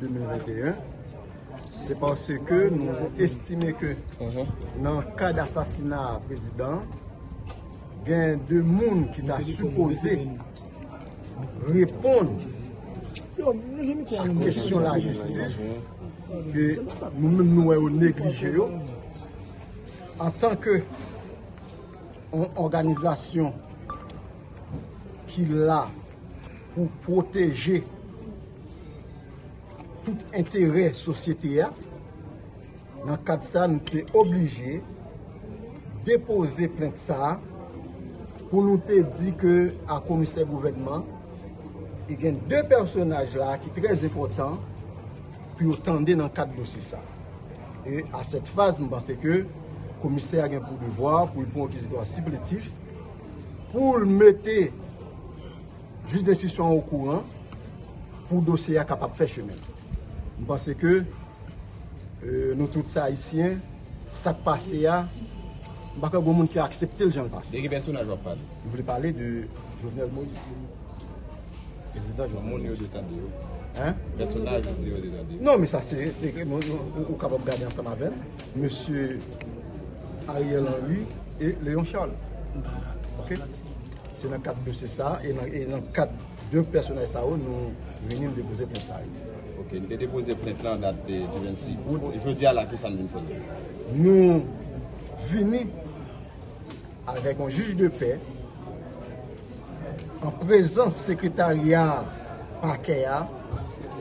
2021 se panse ke nou estime ke nan kad asasina prezidan gen de moun ki ta supose reponn sou kesyon la jistis ke nou menm nou wè ou neglije yo an tanke ou organizasyon ki la pou proteje tout enterè sosyete a, nan kad sa nou te oblije depoze plent sa a pou nou te di ke a komisè gouvènman e gen 2 pèsonaj la ki trè zepotan pou yo tande nan kad dosye sa a. E a sèt faz m panse ke komisè a gen pou devwa pou l pran yon dizidwa sipletif pou l mete Jij denstitisyon an okouran pou dosye a kapab fè chemen. M panse ke nou tout se Ayisyen, sa k pase a, m pa kwè gen yon moun ki aksepte l jan l pase. De ki pèsonaj w ap pale? M vle pale de Jovenel Moïse. Prezidan Jovenel Moïse. Moun yo te tande yo? Hein? Pèsonaj ou di yo te tande yo? Non, men sa se, se ke moun, ou kapab gade ansanm avè m, Mesye Ariel Henry e Léon Charles. Ok? Se nan kad dosye sa a e nan kad 2 pèsonaj sa yo nou vini depoze plent sa yo. Ok, nou te depoze plent lan dat di 26 out, jodi a la ki sa nou vin fè la? Nou vini avèk yon jij de pè an prezans sekretarya pakè a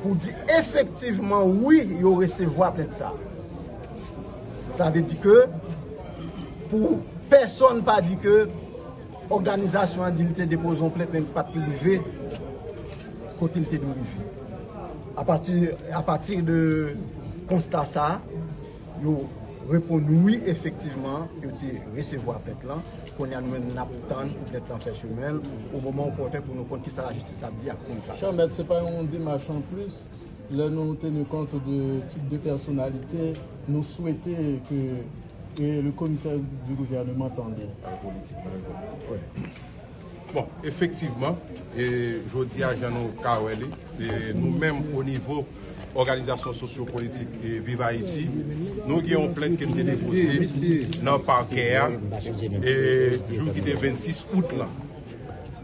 pou di efektivman wi yo resevwa plent sa a. Sa vle di ke pou pèsòn pa di ke òganizasyon an di li te depoze yon plent men li pat rive kote li te dwe rive. Apati de konsta sa, yo reponn wi efektivman yo te resevwa plent lan. Kounye a nou menm nap tann pou plent lan fè chemen l o moman opòten pou nou konn kisa lajistis ap di ak plent sa. Chanmèt se pa yon demach anplis? Lè nou tenu compte de type de personnalité, nou swete ke le commissaire du gouvernement tande. Pale politik nan levann nan anpwen. Bon, efektivman, jodi a jan nou ka wè li, nou menm o nivo òganizasyon sosyo politik Viv Ayiti, nou gen yon plent ke nou te depose nan pakè a jou ki te 26 out lan.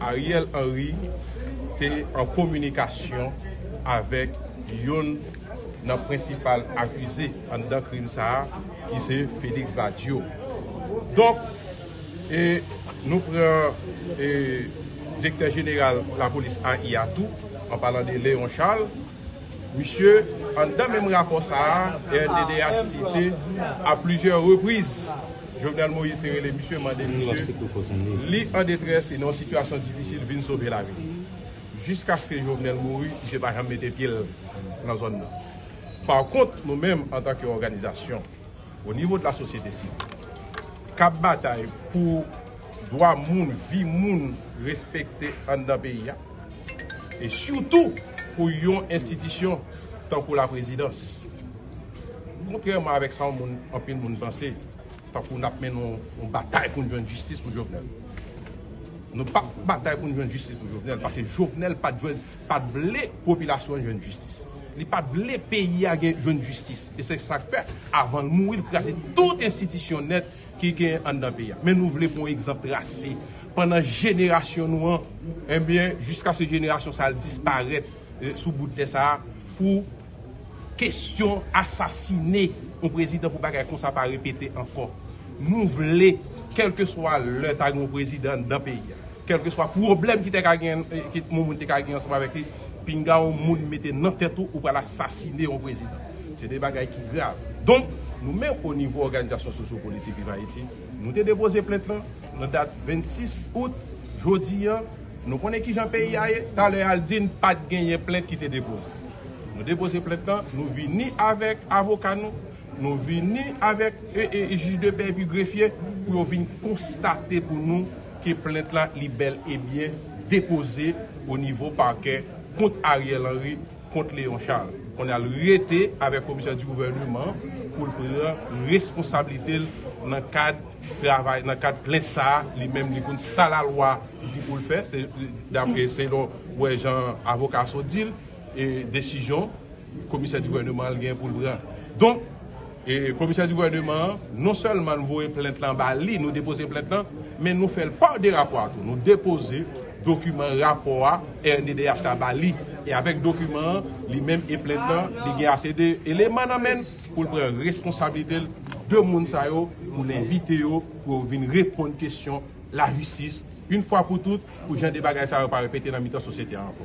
Ariel Henry te an kominikasyon avèk youn nan prensipal akize anndan krim sa a ki se Félix Badio. Donk, nou pran Direktè Jeneral Lapolis AI a tou, an palan de Léon Charles, misye anndan menm rapò sa a, RDDH site a plizyè repriz, Jovenel Moïse te rele misye mande misye li an detrès li nan yon sitiyasyon difisil vin sove lavi l. Jiskaske Jovenel mouri misye pa janm mete pye l nan zòn nan. Pakont nou menm antanke òganizasyon o nivo de la sosyete sivil k ap batay pou dwa moun, vi moun respekte anndan peyi a, E sitou pou yon enstitisyon tankou laprezidans. Kontrèman avèk sa anpil moun panse, tankou n ap mennen yon batay pou n jwenn jistis pou Jovenel. Nou pa p batay pou n jwenn jistis pou Jovenel, paske Jovenel pa t vle popilasyon an jwenn jistis. Li pa t vle peyi a jwenn jistis. E se sa k fè, avan l mouri, li kraze tout enstitisyon nèt ki gen anndan peyi a men nou vle pou yon egzanp trase pandan jenerasyon nou an enbyen jiskaske jenerasyon sa al disparèt sou bout tè sa pou kestyon asasine yon prezidan pou bagay konsa pa repete ankò nou vle kelkeswa lè ta gen yon prezidan anndan peyi a. Kèlkeswa pwoblèm ki te ka gen, ke Momoun te ka gen ansanm avèk li, pinga yon moun mete nan tèt ou ou pral asasine yon prezidan. Se 2 bagay ki grav. Donk, nou menm o nivo òganizasyon sosyopolitik Viv Ayiti, nou te depoze plent lan nan dat 26 out. Jodi an, nou konnen ki jan peyi a ye. Talè a l di n pa t genyen plent ki te depoze. Nou depoze plent lan, nou vini avèk avoka nou, Nou vini avèk jij de pè epi grefye pou yo vin konstate pou nou ke plent la li bèl e byen depoze o nivo pakè kont Ariel Henry, kont Léon Charles. Kounya l rete avèk komisè di gouvèneman pou l pran responsablite l nan kad travay, nan kad plent sa a, li menm li konn sa lalwa di pou l fè, se dapre selon wè jan avoka Sot di l. desizyon komisè di gouvèneman an gen pou l pran. Donk, komisè di gouvèneman an, non sèlman nou voye plent lan ba li, nou depoze plent lan, men nou fè l pa de rapò a tou. Nou depoze dokiman rapò a rnddh la ba li. E avèk dokiman an, li menm e plent lan, li gen ase de eleman nan men l pou l pran responsabilite l de moun sa yo, pou l envite yo pou yo vin reponn kesyon lajistis, in fwa pou tout, pou jan de bagay sa yo pa repete nan mitan sosyete a ankò.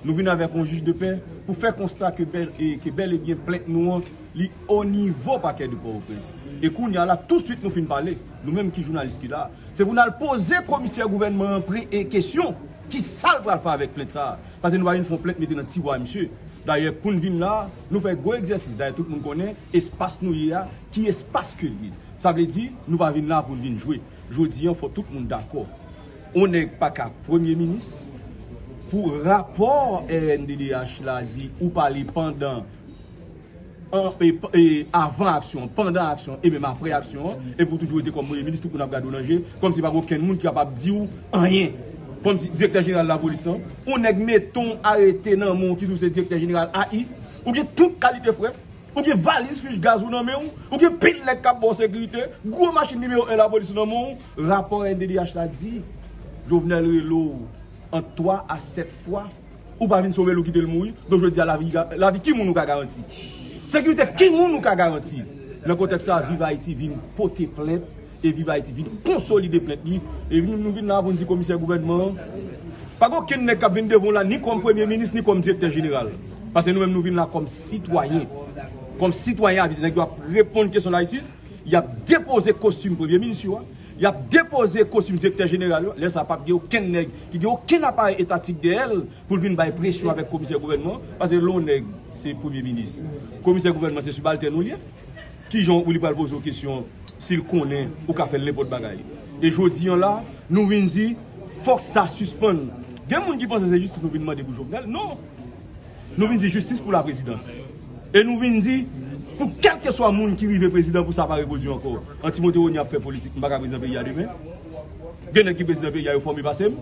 Nou vin avèk yon jij de pè pou fè konsta ke bèl e byen plent nou an li onivo pakè de Pòtoprens. E kounya la, tousuit nou fin pale, nou menm ki jounalis ki la, se pou n al poze komisè gouvènman an pre e kesyon, ki sa l pral fè avèk plent sa a? Pase nou pa vin fè yon plent mete nan tiwa misye. Dayè pou n vin la, nou fè gwo egzèsis, dayè tout moun konnen espas nou ye a, ki espas ke l ye. Sa vle di, nou pa vin la pou n vin jwe. Jodi an fò tout moun dakò. On nèg paka premye minis. Pou rapò rnddh la di ou pale pandan e avan aksyon, pandan aksyon e menm aprè aksyon an, epi ou toujou rete kòm premye minis, tout moun ap gade w nan je, kòmsi pa gen okenn moun ki kapab di w anyen. Kòmsi direktè jeneral lapolis lan, on nèg mete on arete nan men w ki di w se direktè jeneral AI, ou gen tout kalite frè, ou gen valiz fich gaz ou nan men w, ou gen pil nèg k ap ba w sekirite, gwo machin nimewo 1 lapolis nan men w, Rapò NDDH la di, Jovenel rele w ant 3 a 7 fwa, ou pa vin sove l ou kite l mouri, donk jodi a lavi ki moun ou ka garanti? Sekirite ki moun ou ka garanti? Nan kontèks sa a, Viv Ayiti vin pote plent e Viv Ayiti vin konsolide plent li e nou vin la a pou n di komisè gouvènman an, pa gen okenn nèg k ap vin devan w la ni kòm premye minis ni kòm direktè jeneral, pase nou menm nou vin la kòm sitwayen, kòm sitwayen avize, nèg yo ap reponn kesyon layisis. Y ap depoze kostim premye minis yo a, y ap depoze kostim direktè jeneral yo a, lè sa a pap gen okenn nèg ki gen okenn aparèy etatik dèyè l pou l vin bay presyon avèk komisè gouvènman an, paske lè yon nèg se premye minis, komisè gouvènman an se sibaltèn ou l ye, ki jan w li pral poze w kesyon si l konnen ou ka fè l nenpòt bagay? E jodi an la a, nou vin di fòk sa sispann. Gen moun ki panse se jistis nou vin mande pou Jovenel, non! Nou vin di jistis pou la prezidans. E nou vin di pou kelke swa moun ki rive prezidan pou sa pa repwodui anko. An Timote Rony ap fè politik, m pa ka prezidan peyi a demen. Gen nèg ki prezidan peyi a yo fòme pase m.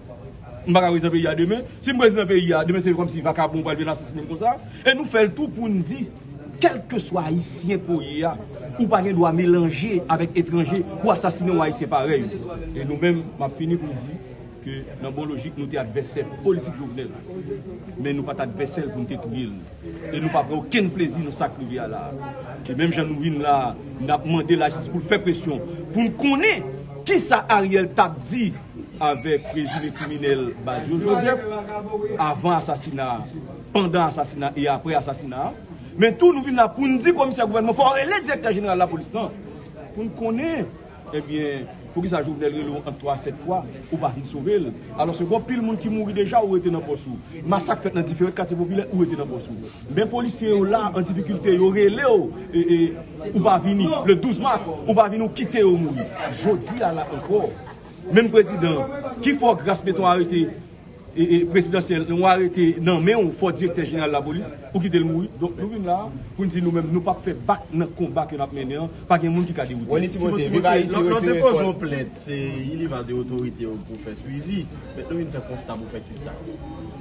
M pa ka prezidan peyi a demen. Si m prezidan peyi a, demen se kòmsi vakabon pral vin asasinen m konsa. E nou fè l tou pou n di kelke swa ayisyen ke w ye a, ou pa gen dwa melanje avèk etranje pou asasinen yon ayisyen parèy ou. E nou menm, m ap fini pou m di, ke nan bon lojik nou te advèsè politik Jovenel men nou pat advèsè l pou nou te touye l e nou pa pran okenn plezi nan sa k rive a la a. E menm jan nou vin la a, n ap mande lajistis pou l fè presyon pou n konnen kisa Ariel t ap di avèk prezime kriminèl Badio Joseph avan asasina a, pandan asasina a e aprè asasina a. Men tou nou vin la pou n di komisè gouvènman fò rele direktè jeneral lapolis lan pou n konnen. Ebyen poukisa jovenel rele w ant 3 a 7 fwa ou pa vin sove l alò se bon pil moun ki mouri deja ou rete nan pòs ou masak fèt nan diferent katye popilè ou rete nan pòs ou men polisye yo la an difikilte yo rele w ou pa vini le 12 mas ou pa vini ou kite yo mouri jodi a la ankò menm prezidan ki fè w gras meton arete prezidansyèl yon arete nan men yon fo direktè jeneral lapolis ou kite l mouri donk nou vin la pou n di nou menm nou pap fè bak nan konba ke n ap mennen an pa gen moun ki ka dewoute n. Timote, viv Ayiti retire kòl. Lè w depoze yon plent se li li va de otorite yo pou fè swivi men nou vin fè konsta pou fè ki sa?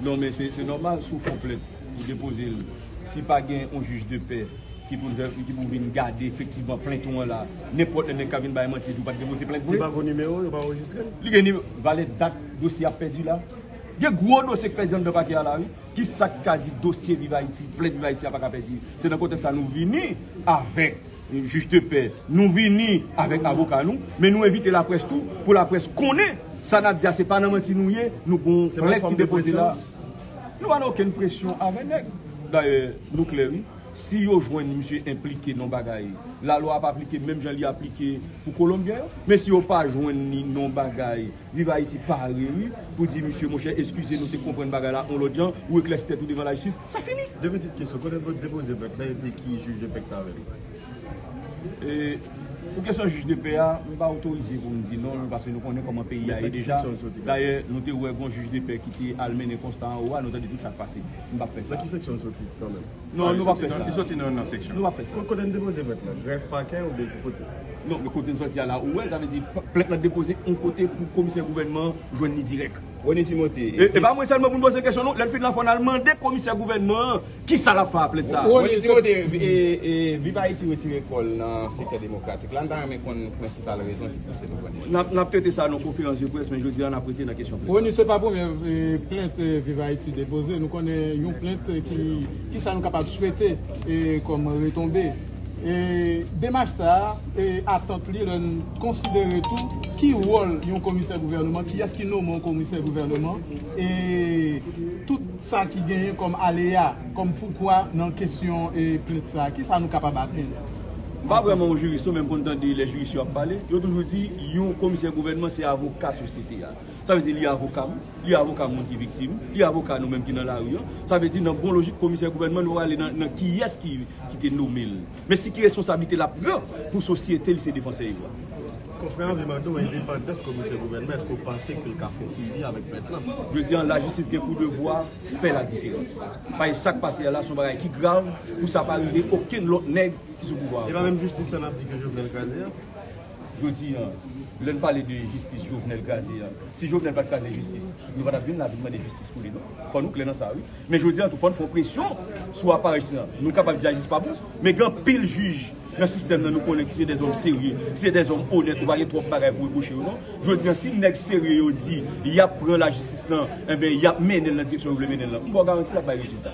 Non men se nòmal si w fon plent ou depoze l si pa gen yon jij de pè ki pou l ki pou vin gade efektivman plent ou an la nenpòt lè nèg ka vin bay manti di w pat depoze plent vre. Li pa gen nimewo yo pa anrejistre l? Li gen nimewo valè dat. Dosye ap pèdi la. Gen gwo dosye k pèdi anndan pakè a la wi. Kisa k ka di dosye viv Ayiti, plent viv Ayiti a pa ka pèdi. Se nan kontèks sa nou vini avèk jij de pè, nou vini avèk avoka nou, men nou envite laprès tou pou laprès konnen sa n ap di a se pa nan manti nou ye, nou gon plent ki depoze la. Nou pa nan okenn presyon avè nèg. Dayè nou klè wi, si yo jwenn misye enplike nan yon bagay, lalwa ap aplike menm jan li aplike pou kolonbyen yo. Men si yo pa jwenn li nan yon bagay. Viv Haiti pare wi pou di misye monchè eskize nou te konprann bagay la yon lòt jan ou eklèsi tèt ou devan lajistis sa fini. De pitit kesyon, kote nou depoze pèk la epi ki jij de pèk ta rele? E pou kesyon jij de pè a, m pa otorize pou m di non l pase nou konnen kòman peyi a ye deja, dayè nou te wè gon jij de pè ki te al mennen konsta anwo a nou tande tout sa k pase m pap fè sa. Nan ki seksyon l soti kanmèm? Non, nou pap fè sa. Li soti nan nan seksyon. Nou pap fè sa. Kot kote nou depoze plent lan? Grèf, pakè oubyen ki kote? Non, men kote nou soti a la ou wèl, sa vle di plent lan depoze yon kote pou komisè gouvènman an jwenn li dirèk. Rony Timothé, e ki. E pa mwen sèlman pou nou poze kesyon non, lè l fin la fò n al mande komisè gouvènman an kisa l ap fè a plent sa a. Rony Timothé, e Viv Ayiti retire kò l nan sektè demokratik la, n ta renmen konn prensipal rezon ki pouse l. Nap trete sa nan konferans de près men jodi a nap rete nan kesyon plent la. Rony se pa premye plent viv Haiti depoze nou konnen yon plent ki kisa nou kapab swete kom retonbe demach sa atant li lè n konsidere tou ki wol yon komisè gouverneman kiyes ki nome yon komisè gouverneman e tout sa ki genyen kom aleya kom poukwa nan kesyon plent sa kisa nou kapab atenn. M pa vrèman yon jiris non men m konn tande lè jiris yo ap pale, yo toujou di yon komisè gouvènman se avoka sosyete a. Sa vle di li avoka m, li avoka moun ki viktim, li avoka nou menm ki nan lari an. Sa vle di nan bon lojik komisè gouvènman nou ale nan kiyès ki te nome l. Men si ki responsablite l ap pran pou sosyete li se defansè yo a. Konfrè an vle mande w endepandans komisè gouvènman èske w panse ke l ka kontribye avèk pèt lan? Jodi an lajistis gen pou devwa fè ladiferans. Bay sak pase a la son bagay ki grav pou sa pa rive okenn lòt nèg ki sou pouvwa a. E pa menm jistis sa nap di ke Jovenel kraze a? Jodi an, lè n pale de jistis Jovenel kraze a, si Jovenel pat kraze jistis, nou pa tap vin la vin mande jistis pou li non. Fò nou klè nan sa wi. Men jodi an tou fò n fè yon presyon sou aparèj la. Nou kapab di a jistis pa bon, men gen anpil jij. Nan sistèm nan nou konnen ki se de zòm serye, ki se de zòm onèt ou pa gen twòp bagay pou repwoche yo non. Jodi an si nèg serye yo di yap pran lajistis nan, enben yap mennen l nan direksyon yo vle mennen l lan. M ba w garanti lap bay rezilta.